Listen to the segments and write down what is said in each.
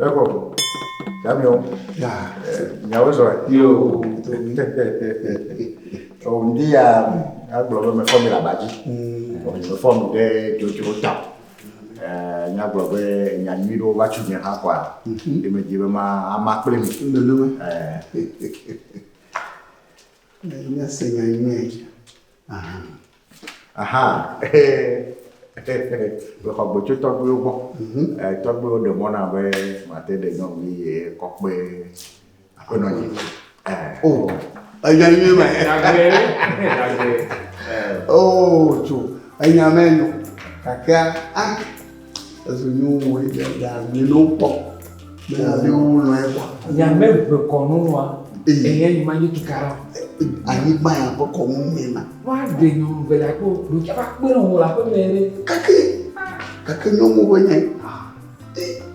Eko, Daniel. Ya. Nyawo zɔ. Yo. O ndi ya agblɔ be mefɔ mi le aba dzi. O mefɔ mi ɖe dzodzro ta. Eh, nyagblɔ be nya nyui ɖewo va tso mia hã kɔa. Ye medzi be ma ama kple mi. Nenema. Eh. Nya se nya nyui. aha mexɔ gbe tso tɔgbuiwo gbɔ mhm. eh, tɔgbuiwo ɖe mɔ na be mate ɖe nyɔnuvi ye kɔkpe aƒenɔ nyi eh. oh, enya nyuie ma o oh, tso enya mɛ nyo kakea ah. Ezo nyo wɔ yi ɖe ya mi no kpɔ. Me ya de wo lɔ ye kwa. Ya me be kɔ no wa. Eye yi ma yi tu kara. Ayi gba ya be kɔ no me na. Wa de nyo no be la ko do ke ba kpe no la ko me re. Kake. Kake nyo mo be nye.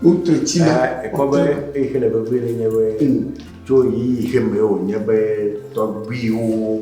Wo tre ti na. E ko be e kele be be le nye be. Tso yi yi ke me o nye be tɔgbiwo.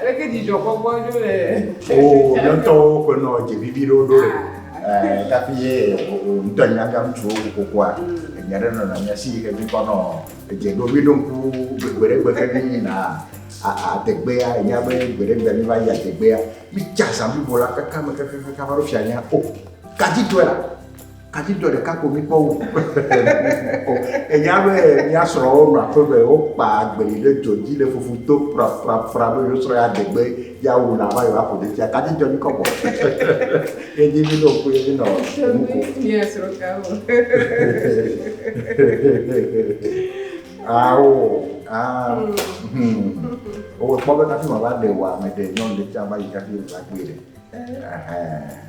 Aleke dzidzɔkpɔkpɔ ɖo le Oo, mía ŋutɔwo ƒe nɔ dze vivi ɖewo ɖo le. Ɛɛ tafi ye wò ŋutɔ nyi nyaga ŋutsuwo kokokua, enya ɖe nɔna mía si yi ke mí kpɔnɔ edze ɖo. Mí ɖo ŋku gbe ɖe gbe ke mí yina adegbea, enya be gbe ɖe gbea mí va yi adegbea, mí tsa zã blibo la kaka me kakakaka va ɖo fianya. O, gaji tɔe la. Kadzidɔ ɖeka ko mi kpɔ wu. Enya be mia srɔ wo nɔ aƒe be wo kpa agbeli ɖe dɔ dzi le fufu to fra fra fra be yo srɔ ya degbe ya wu la va yo aƒo ɖe tia kadzidɔ mi kɔbɔ. Ye dzi mi no ko ye mi nɔ mu ko. Mia srɔ ka wo. Awo. Ah. Hmm. Owe kpɔ be kafi ma va de wa me de nyɔnu ɖe tia va yi kafi va gbé ɖe. Eh.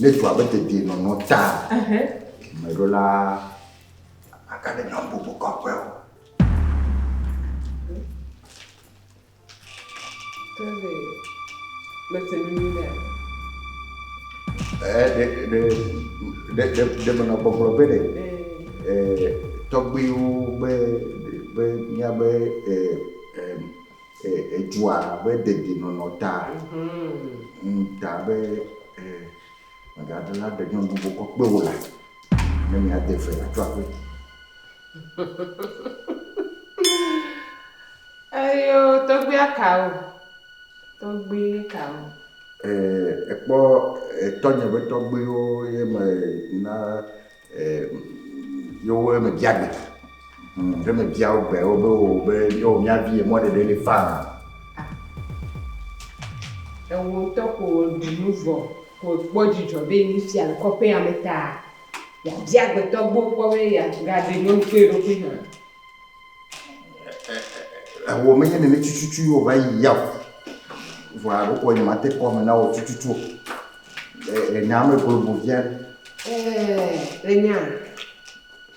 Ne dua be dedie nɔnɔ ta, me ɖo la aka ɖe nyɔnu bubu kɔƒe o. Tɛlɛ, mese nu nyui ɖe. Ɛɛ, ɖe, ɖe, ɖe, ɖe, ɖe menɔ gbɔgblɔ be ɖe, ɛɛ, tɔgbuiwo be, be, mía be, ɛɛ, ɛɛ, E, edzua abe dedienɔnɔ ta ŋu ta be e, mègade la ɖe nyɔnu bubu kɔ kpe wò la, ne miade fe la tso aƒe. Eyo tɔgbia kawo? Tɔgbi kawo? E, ekpɔ etɔnye ƒe tɔgbiwo ye me na Ye wo eme bia gbe. Hm, ɖe me bia wo gbe wo be wo be yo mia vi ye mɔ ɖeɖe le faa. Ewo ŋutɔ ko ɖu nu vɔ ko kpɔ dzidzɔ be yi fia le kɔƒea me ta. Ya bia gbetɔ gbɔ kpɔ be ya ga ɖe nyɔnu kple eɖokui hã. Eho menye nene tututu ye wòva yi ya o. Vɔa ɖeko nyemate kpɔ ame nawò tututu o. Le nya me globo via. Ɛɛ, le nya.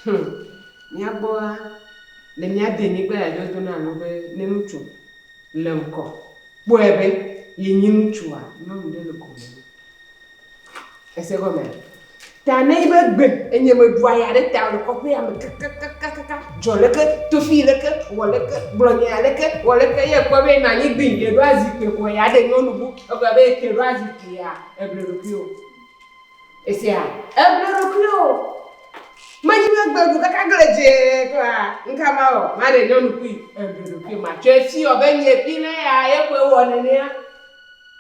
Hum, mía gbɔa, le mía denyigba ya dzi wodona nu be ne ŋutsu le ŋkɔ kpɔe be yenye ŋutsua, nyɔnu ɖe le gome nɛ. Ese gɔmea? Ta ne be gbe enye meɖu aya ɖe ta le kɔƒea me kakakakaka dzɔ leke tofi leke wɔ leke gblɔ nya leke wɔ leke ye kpɔ be na nyi gbi ye ɖo azikpe kɔ ya ɖe nyɔnu bu egblɔ be ke ɖo azikpe ya eble ɖokui o esia eble ɖokui o me nyi be gbe ɖu kaka gble dze kɔa nka ma o ma ɖe nyɔnu kui eble ɖokui ma tsɔ esi ɔ be nye fi ne ya ye kɔe wɔ nenea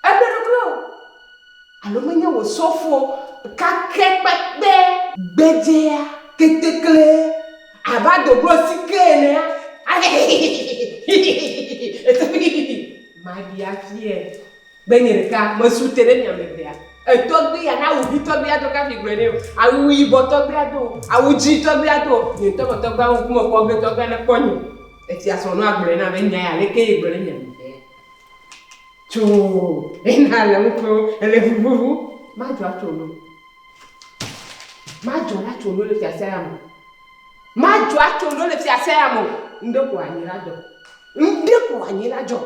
eble ɖokui o Alo menye wò sɔfo kakɛ kpekpe. Gbedzea ketekle abe adoglo sike enea, ale hihihihihihihihihihi ete hihihi maɖi afiae be nye ɖeka mesu te ɖe mia me vea. Etɔgbi ya na awu ʋi tɔgbi ado kafi gblɔe nɛ o, awu yibɔ tɔgbi ado o, awu dzi tɔgbi ado o, nye ŋutɔ me tɔgbi awu ŋkume kpɔ ge tɔgbia ne kpɔ nye. Esia srɔ̃nɔa gblɔe na be nya ya aleke ye gblɔ ɖe mia me vea. Tso ena le ŋuto ele vuvuvu. Madzɔ atso no. Madzɔ atso no le fiase ya me. Madzɔ atso no le fiase ya me. Ŋɖe ko anyi la dzɔ. Ŋɖe ko anyi la dzɔ.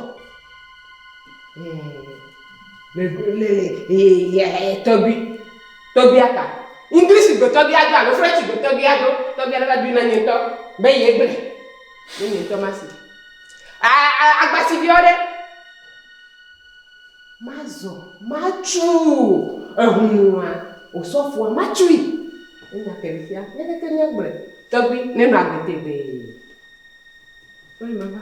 Le le le tɔgbi tɔgbi aka. English gbe tɔgbi ado alo French gbe tɔgbi ado tɔgbi ale va bi na nye ŋutɔ be ye gble. Ne nye ŋutɔ ma si. Agba si biɔ ɖe. Mazɔ, matsu eŋu nua, osɔfoa, matsui. Enya ke fia, leke ke nye gblɔe, tɔgbi ne nɔ agbe tegbee. Wole mama.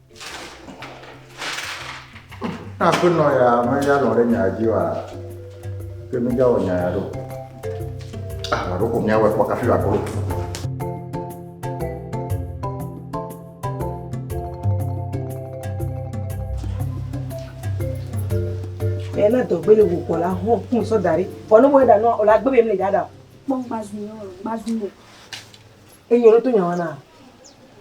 Na aƒenɔ ya meya lɔ ɖe nya dzi wa ke meya wɔ nya ya ɖo. Ah, wɔ ɖo ko mía wɔ kpɔ kafi wa kolo. Ẹ na dɔgbe le wòkɔ la hɔn kún sɔ da ɖi. Vɔ ne wòe ɖa nɔ o la gbé bɛ mi le dada. Kpɔ gbazu yɔ gbazu yɔ. Eyɔ ɖo tó nyawana.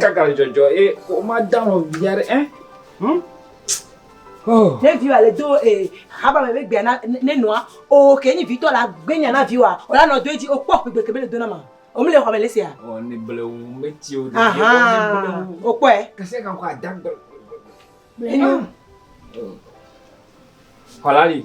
Kaka dzɔdzɔ ye woma da nɔ via ɖe ɛ. Ne vi wa le do ee haba me be gbea na ne nɔa o ke nyi vitɔ la gbenya na vi wa o la nɔ do edzi o kpɔ gbegbe ke be le do na ma. O mi le xɔ me le sia. O ne ble o me ti o. Aha. O kpɔ ɛ. Kese kan ko adagbe. Enyo. Kɔlali.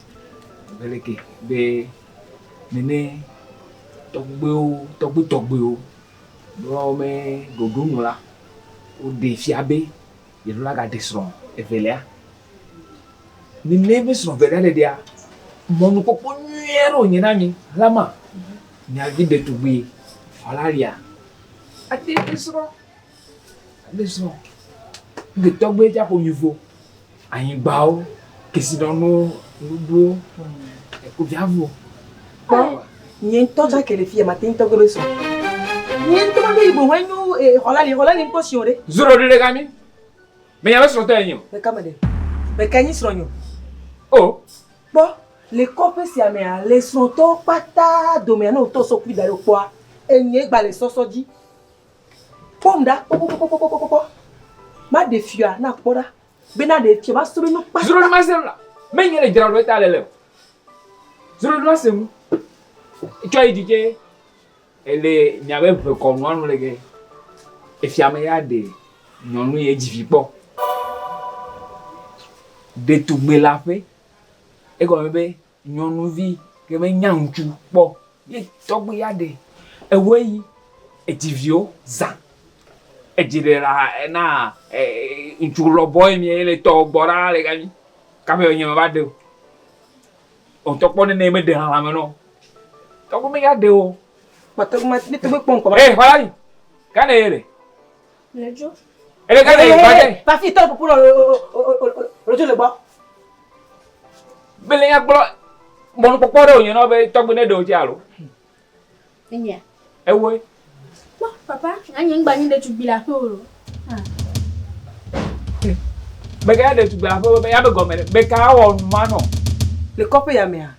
Beleke be nene tɔgbuiwo, tɔgbui tɔgbuiwo ɖewo me ɖoɖo nu la, woɖe fia be yeɖo la gaɖe srɔ̃ evelia. Nene be srɔ̃ evelia ɖeɖea, mɔnukpɔkpɔ nyui aɖe wònye na mi, Rama, miavi ɖetugbui Valeria ade srɔ̃, ade srɔ̃. Ŋketɔgbuie dza ƒo nyuivo. Anyigbawo, kesinɔnuwo, nuɖuwo, ekuviavuwo. Kpɔ nye ŋutɔ tsã ke le fi ya mate ŋutɔ gbe be sɔ. Nye ŋutɔ maɖo yi boŋ enyo xɔla li xɔla li ŋutɔ si o ɖe. Zoro ɖe ɖe ga mi. Menya be srɔ̃tɔ enyi o. Meka me ɖe? Meka nyi srɔ̃nyo? O. Kpɔ le kɔƒe sia mea le srɔ̃tɔwo kpata domea ne wotɔ sɔkui da ɖe o kpɔa enyɔe gba le sɔsɔ dzi. Kpɔm ɖa kpɔkpɔkpɔkpɔkpɔkpɔ. Maɖe fiɔa na kpɔ ɖa. Bena ɖe fiɔ masrɔ̃ nu kpata. Srɔ̃ nu masrɔ̃ la. Menye le dzra ɖo eta le lem. Srɔ̃ nu masrɔ̃ nu. Tsɔ yi dzi tse. Ele mia be ʋe kɔ nua nu le ge. Efia me ya ɖe nyɔnu ye dzi vi kpɔ. Ɖetugbe la ƒe. Egɔme be Nyɔnuvi ke me nya ŋutsu kpɔ ye tɔgbi ya ɖe ewe yi edzi viwo zã edzi ɖe la ena ŋutsu lɔ bɔ ye mie le tɔ gbɔ ɖa le gami kaƒe enye me va ɖeo otɔ kpɔ nɛ me ɖe hame nɔ tɔgbi me ya ɖeo. Mate ŋu ma mete ŋu kpɔ ŋkɔ va. Ee xɔla yi gane ye le. Lejo. Ele ka le ba de. Ba fi tɔ pupu lɔ lejo le gbɔ. Bele nya kplɔ mɔnu kpɔkpɔ ɖe o nyɔnɔ be tɔgbe ne ɖe o tse alo. Enyia. Ewoe. Kpɔ papa anyi ŋgba nyi ɖe tugbi la ƒe o. Bega ɖe tugbi la ƒe be ya be gɔme be ka wɔ nu ma nɔ. Le kɔƒe ya mea.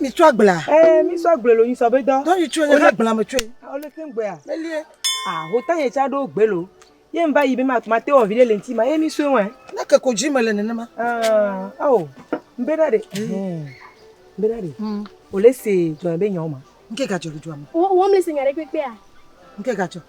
Mi tsɔ agbla. Eh, mi tsɔ agbla lo, mi sɔ be dɔ. Dɔ yi tsɔ nye ka agbla me tsɔ. O le tem gbea. Elie. Ah, ho ta ye tsa do gbe lo. Ye mba yi be ma ma te o vile le nti ma. E mi so wen. Na ke ko ji me le ne ne ma. Ah, oh. Mbe da de. Hmm. Mbe da de. Hmm. O le se jo be nyo ma. Nke ka jo jo ma. O o me se nya re pe pe a. Nke ka jo.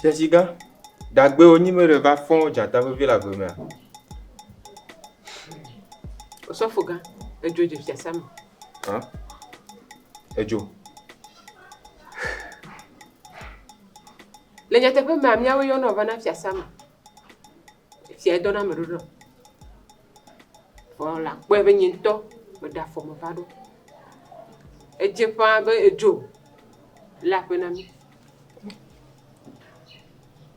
Tesiga, Dagbewo nyi me ɖe va fɔ̃ dzata vevi le agbe mea? Osɔfogã, Edzo dze fiasã me. Hã? Edzo. Le nyateƒe mea, míawo yɔnɔ vana fiasã me. Fia edɔna ame ɖoɖoa. Vɔ la kpɔe be nye ŋutɔ meɖe afɔ me va ɖo. Edze ƒãa be edzo le aƒe na mí.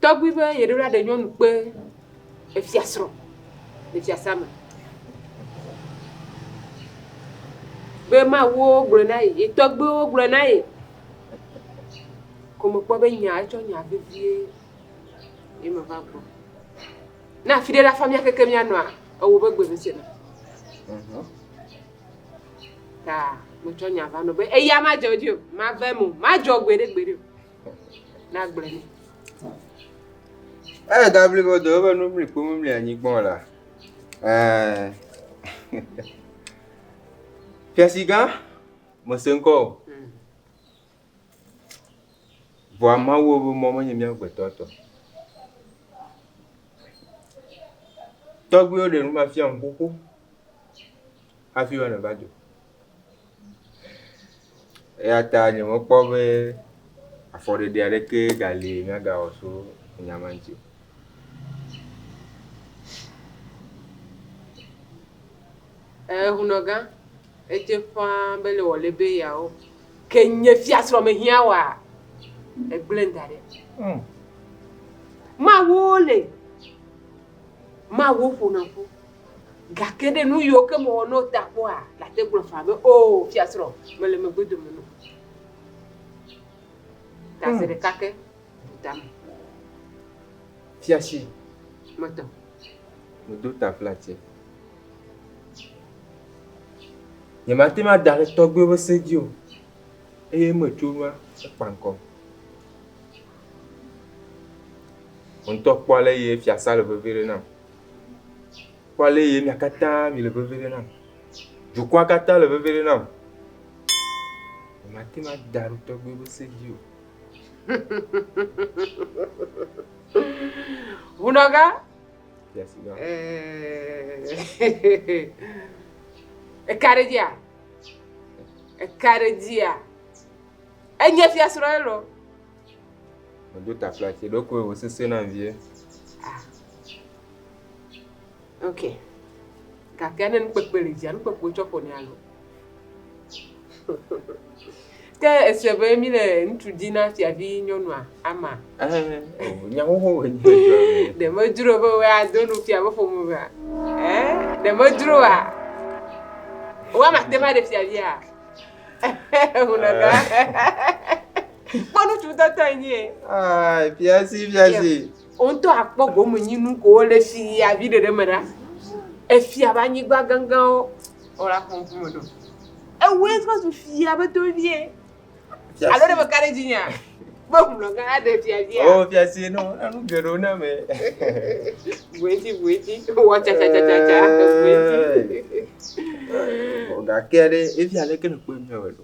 Tɔgbui be yeɖo la ɖe nyɔnu kpe efiasrɔ̃ le fiasã me. Be mawuwo gblɔe na ye, ye tɔgbuiwo gblɔe na ye. Ko mekpɔ be nya, etsɔ nya vevie ye meva gbɔ. Ne afi ɖe la fa mía keke mía nɔa ewo be gbe ŋusẽ me. Ta metsɔ nya va nɔ be eya madzɔ dzi o, mave mo, madzɔ gbeɖe gbeɖe o. Na gblẽ ne. Eye da blibo do eƒe nu mli kpo mli anyigba o la. Eh. Fiasigã, mese ŋkɔ o. Vɔa Mawu ƒe mɔ menye mía gbetɔ tɔ. Tɔgbuiwo ɖe nu mafia nu xoxo hafi woanɔ va do. Eya ta nyemekpɔ be afɔɖeɖe aɖeke gali míagawɔ tso nya ma ŋuti o. Ehunɔgã. Edze ƒãa be le wòle be yeawo, ke nye fiasrɔ̃ mehiã woa? Egblẽm da ɖi. Mm. Mawu le, Mawu ƒona ƒu, gake ɖe nu yiwo ke mewɔ no ta kpɔa, le ate gblɔ faa be, O, oh, fiasrɔ̃, mele megbe dome no. Ta se mm. ɖeka ke, bu tame. Fiasi. Metɔ. Medo ta flatie. Nyemate ŋu ada ɖe tɔgbuiwo ƒe se dzi o eye eme tso ŋua ekpa ŋkɔ. Wò ŋutɔ kpɔ ale si fiasã le veve ɖem nam. Kpɔ ale si mia katã mile veve ɖem nam. Dukɔa katã le veve ɖem nam. Nyemate ŋu ada ɖe tɔgbuiwo ƒe se dzi o. Hunɔka. Eka ɖe dzia? Eka ɖe dzia? Enye fiasrɔ̃ ye lɔ. Medo ta fla ti ɖo koe wosese na vie. Ah. Ok. Gake ne nukpekpe le dzia, nukpekpe tsɔ ƒo ne alo. Ke èsee be míle ŋutsu di na fiavinyɔnua ama? Ɛɛ, o, nya xoxo wònye ŋutɔe be. Ɖe medzro be woado nu fia ƒe ƒome mea? Ɛɛ, ɖe medzroa? Wò ama te ŋu aɖe fiavia? Ŋunɔ ga. Kpɔ nu ŋutsu tɔtɔ enye. Ɛɛ, fiasi, fiasi. Wò ŋutɔ àkpɔ gomenyinu kowo le fiaviɖeɖe me ɖa. Efia ƒe anyigba gãgãwo, Wole afɔ ŋku me ɖo. Ewue trɔ zu fia be tovie. Alo ɖe meka ɖe dzinyea? Be ŋlɔ gã aɖe fiafia. O fiase nɔ enu geɖewo na me. Bueti bueti wɔ tsatsatsatsa bueti. Gake ɖe efia leke nèkpɔe mea wɔ ɖo.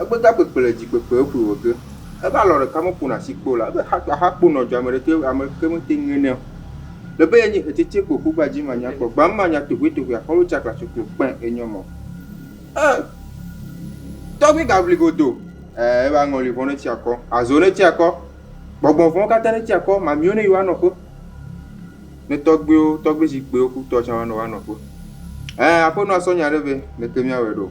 Egbega kpekpe le dzikpekpeɛ ƒui wɔ ge. Ebe alɔ ɖeka me ƒona si kpeo la, ebe ha aha kpo nɔ dza ame ɖeke ame ɖeke me te ŋe nɛ o. Le be ye nyi etsetse kpo ƒu gba dzi ma nya kpɔ gba ma nya tohue tohue a xɔlo tsa klaso kpo kpɛ e nyɔ mɔ. E tɔgbi ga vli godo. Ɛɛ ebe aŋɔli vɔn ne tsi akɔ, azo ne tsi akɔ, gbɔgbɔn vɔn kata ne tsi akɔ, mamiwo ne yi wa nɔƒe. Ne tɔgbiwo, tɔgbi zikpewo ku tɔ tsa wa nɔ wa nɔƒe. Ɛɛ aƒenɔa sɔ nya ɖe be, Leke mia wɛ ɖo?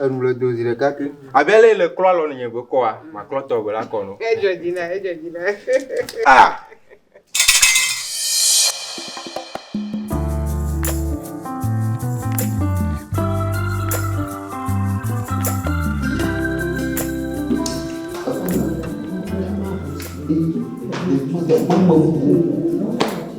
Enu le do zi ɖeka ke. Abe le le klɔ alɔ nye gbe kɔa, ma klɔ tɔ gbe la kɔ no. Edzɔ dzi na, edzɔ dzi na. Ah! Thank you.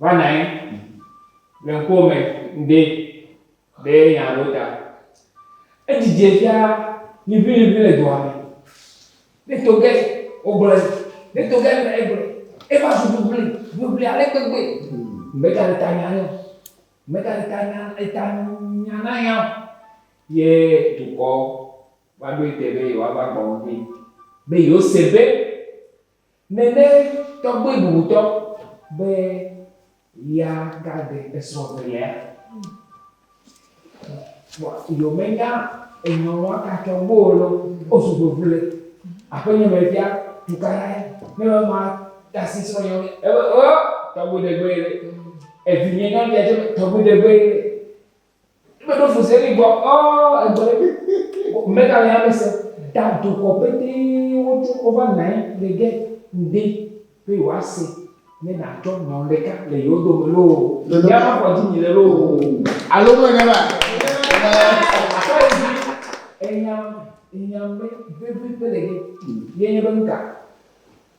Va nyi le ŋkuwò me ŋde be nya ɖewo ta. Edzidzɛ fia liʋiliʋi le dua me. Ne to ge wogblɔe, ne to ge mele egblɔe. Eva zu ʋliʋli, ʋliʋli ale gbegbe be ta le ta nya nɛ o. Me ta le ta nya, eta nya na nya o. Ye dukɔ va ɖoe te be yewoava gbɔ ŋdi be yewose be. Nene tɔgbe bubutɔ be ya ga ɖe esrɔ velea. Yo me nya enyɔn wa ka tɔ bo lo o su bo vle. Ape nyɔ me fia tu ka la ne me ma ta si srɔ nyɔ me. Ebe o tɔgbe de gbe le. Evi nye nyɔ dia je tɔgbe de gbe le. Eme ɖo fu zeli gbɔ ɔ egbɔ ɖe mi. Mega le ame se da dokɔ pete wo tso wo va nae le ge ŋde be yo a se ne na tsɔ nyɔn ɖeka le yo do me loo ya ma kɔ dzi mi le loo alo me ne ba tsɔ yi dzi enyam enyam be vevi pe le ge ye nye be ŋka.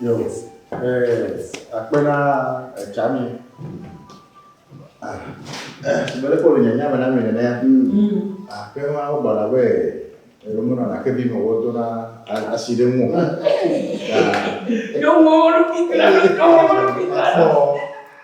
Yo, eh, akpe na etsa mi. Ah, eh, mele kɔ le nye nyame na mi nene. Akpe ma wo gbana be elomo na nake bi me wo do na asi ɖe mu. Ɖo mo lo pitla, ɖo mo lo pitla.